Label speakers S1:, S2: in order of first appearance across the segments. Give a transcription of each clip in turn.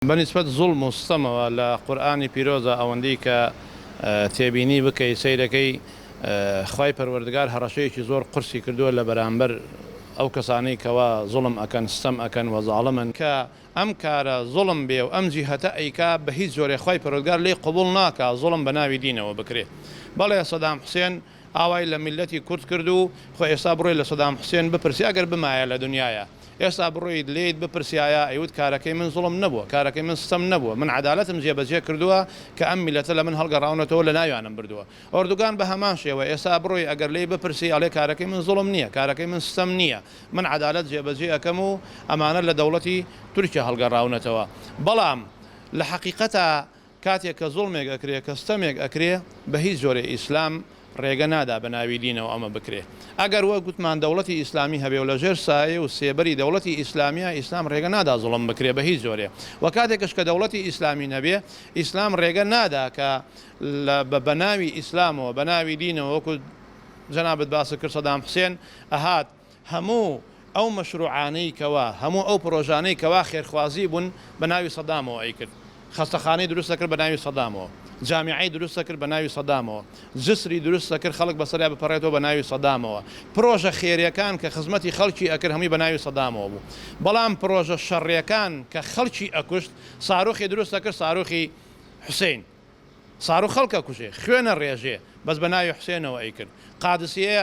S1: بە نیسبەت زوڵم و ستەمەوە لە قورئانی پیرۆزە ئەوەندەی کە تێبینی بکەی سەیرەکەی خوای پەروەردگار هەڕەشەیەکی زۆر قورسی کردووە لە بەرامبەر ئەو کەسانەی کەوا زوڵم ئەکەن ستەم ئەکەن وە زاڵمن، کە ئەم کارە زوڵم بێ و ئەم جیهەتە ئەیکا بە هیچ جۆرێ خوای پەروەردگار لێی قبوڵ ناکا زوڵم بە ناوی دینەوە بکرێ بەڵێ سەدام حوسێن. ئاوای لە میللەتی کورد کرد و خۆ ئێستا بڕۆی لە سەدام حوسێن بپرسی ئەگەر بمایە لە دنیایا ئێستا بڕۆیت لێیت بپرسیایە ئەیوت کارەکەی من زوڵم نەبووە کارەکەی من ستەم نەبووە من عەدالەتم جێ بەجێ کردووە کە ئەم میللەتە لە من هەڵگەڕاونەتەوە لە ناویانم بردووە ئۆردوگان بە هەمان شێوە ئێستا بڕۆی ئەگەر لێی بپرسی ئەڵێ کارەکەی من زوڵم نییە کارەکەی من ستەم نییە من عەدالەت جێ بەجێ ئەکەم و ئەمانە لە دەوڵەتی تورکیا هەڵگەڕاونەتەوە بەڵام لە حەقیقەتا کاتێک کە زوڵمێک ئەکرێ کە ستەمێک ئەکرێ بە هیچ جۆرێ ئیسلام ڕێگە نادا بە ناوی دینەوە ئەمە بکرێ ئەگەر وەک گوتمان دەوڵەتی ئیسلامی هەبێ و لە ژێر سایەی و سێبەری دەوڵەتی ئیسلامیە ئیسلام ڕێگە نادا زوڵم بکرێ بە هیچ جۆرێ وە کاتێکش کە دەوڵەتی ئیسلامی نەبێ ئیسلام ڕێگە نادا کە لە بە بەناوی ئیسلامەوە بەناوی دینەوە وەکو جەنابت باست کرد سەدام حسێن ئەهات هەموو ئەو مەشروعانەی کەوا هەموو ئەو پرۆژانەی کەوا خێرخوازی بوون بەناوی سەدامەوە ئەیکرد خەستەخانەی دروست ئەکرد بەناوی سەدامەوە جامیعەی دروست ئەکرد بەناوی سەدامەوە جسری دروست ئەکرد خەڵک بەسەریا بپەڕێتەوە بەناوی سەدامەوە پرۆژە خێرێکان کە خزمەتی خەڵکی ئەکرد هەمووی بەناوی سەدامەوە بوو بەڵام پرۆژە شەڕێکان کە خەڵکی ئەکوشت ساروخی دروست ئەکرد ساروخی حوسین ساروخ خەڵک ئەکوژێ خوێن ئەڕێژێ بەس بەناوی حوسێنەوە ئەیکرد قادسیە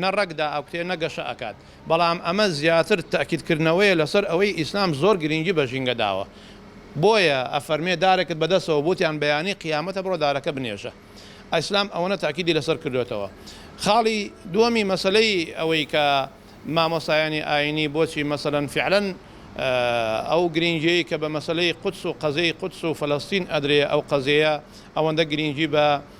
S1: نە ڕەگ دائەکوتێ نە گەشە ئەکات، بەڵام ئەمە زیاتر تەئکید کردنەوەیە لەسەر ئەوەی ئیسلام زۆر گرینگی بە ژینگە داوە بۆیە ئەفەرمێ دارێکت بە دەستەوە بوت یان بەیانی قیامەتە بڕۆ دارەکە بنێژە ئیسلام ئەوەنە تەئکیدی لەسەر کردۆتەوە خاڵی دووەمی مەسەلەی ئەوەی کە مامۆستایانی ئاینی بۆچی مەسەلەن فعلەن ئەو گرینگیەی کە بە مەسەلەی قودس و قەزێی قودس و فەلەستین ئەدرێ ئەو قەزێیە ئەوەندە گرینگی بە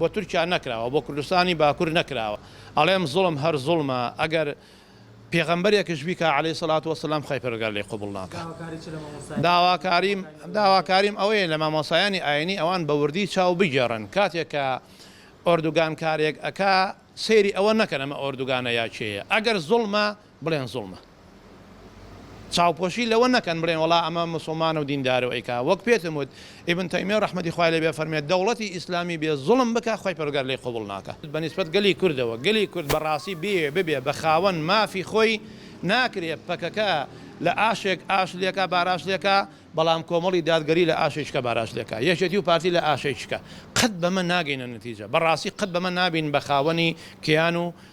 S1: بۆ تورکیا نەکراوە بۆ کوردستانی باکور نەکراوە ئەڵێم زوڵم هەر زوڵمە ئەگەر پێغەمبەرێکش بیکا علی سلات وسلام خی پرگار لی قوبڵ ناکە داواکاریم داواکاریم ئەوەیە لە مامۆسایانی ئاینی ئەوان بە وردی چاو بگێڕن کاتێک کە ئۆردوگان کارێک ئەک سەیری ئەوە نەکەن ئەمە ئۆردوگانە یاچەیە ئەگەر زوڵمە بڵێن زوڵمە چاوپۆشی لەوە نەکەن بڵێن وەڵا ئەمە موسڵمانە و دیندارە و ئەیکا وەک پێتم وت ئیبن تەیمیە ڕەحمەتی خوای لێ بێ فەرمێ دەوڵەتی ئیسلامی بێ زوڵم بکا خوای پەروەردگار لێی قبوڵ ناکا بەنیسبەت گەلی کوردەوە گەلی کورد بەڕاستی بیەوێ ببێ بە خاوەن مافی خۆی ناکرێ پەکەکە لە ئاشێک ئاش لێکا باراش لێکا بەڵام کۆمەڵی دادگەری لە ئاشێ چکە باراش لێکا یەکێتی و پارتی لە ئاشێ چکە قەت بەمە ناگەینە نەتیجە بەڕاستی قەت بەمە نابین بە خاوەنی کیان و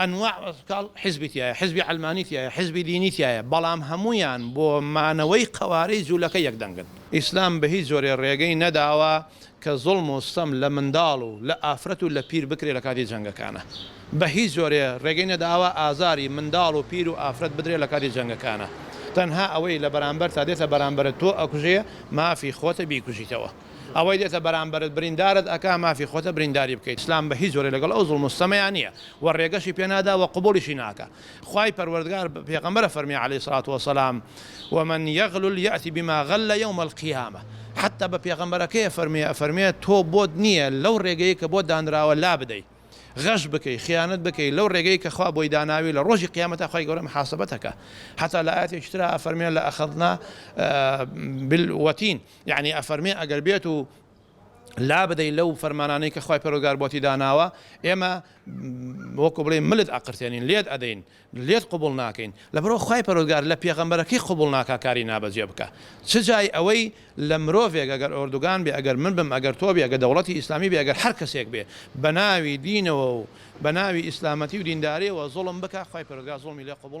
S1: ئەنواع کاڵ حیزبی تیایە حیزبی عەلمانی تیایە حیزبی دینی تیایە بەڵام هەموویان بۆ مانەوەی قەوارەی جولەکە یەک دەنگن. ئیسلام بە هیچ جۆرێ ڕێگەی نەداوە کە زوڵم و ستەم لە منداڵ و لە ئافرەت و لە پیر بکرێ لە کاتی جەنگەکانا بە هیچ جۆرێ ڕێگەی نەداوە ئازاری منداڵ و پیر و ئافرەت بدرێ لە کاتی جەنگەکانا تەنها ئەوەی لە بەرامبەرتا دێتە بەرامبەرت تۆ ئەکوژێ مافی خۆتە بیکوژیتەوە. ئەوەی دێتە بەرامبەرت بریندارت ئەکا مافی خۆتە برینداری بکەیت ئیسلام بە هیچ جۆرێ لەگەڵ ئەو زوڵم و ستەمەیا نیە وە ڕێگەشی پێ نادا وە قبوڵیشی ناکا خوای پەروەردگار بە پێغەمبەرە فەرمی علی سڵات وسلام ومن یغلل یاتی بما غل یوم القیامە حتی بە پێغەمبەرەکەی ئەفەرموێ ئەفەرموێ تۆ بۆت نیە لەو ڕێگەی کە بۆت دانراوە لابدەی غەش بکەی خیانەت بکەی لەو ڕێگەی کە خوا بۆی داناوی لە ڕۆژی قیامەتا خوای گەورە محاسبەتەکە حتا لە ئایەتێکی ترا ئەفەرموێ لە اخذنا بالوتین یەعنی ئەفەرمێ ئەگەر بێت و لابدەی لەو فەرمانانەی کە خوای پەرۆگار بۆتی داناوە ئێمە وەکو بڵێ ملت ئەقرتێنین لێت ئەدەین لێت قوبڵ ناکەین لەبەرەوە خوای پەرۆگار لە پێغەمبەرەکەی قوبڵ ناکا کاری نابەجێ بکە چ جای ئەوەی لە مرۆڤێک ئەگەر ئۆردوگان بێ ئەگەر من بم ئەگەر تۆ بێ ئەگە دەوڵەتی ئیسلامی بێ ئەگەر هەر کەسێک بێ بە ناوی دینەوە و بە ناوی ئیسلامەتی و دینداریەوە زۆڵم بکە خوای پەرۆگار زۆڵمی لێ قوبڵ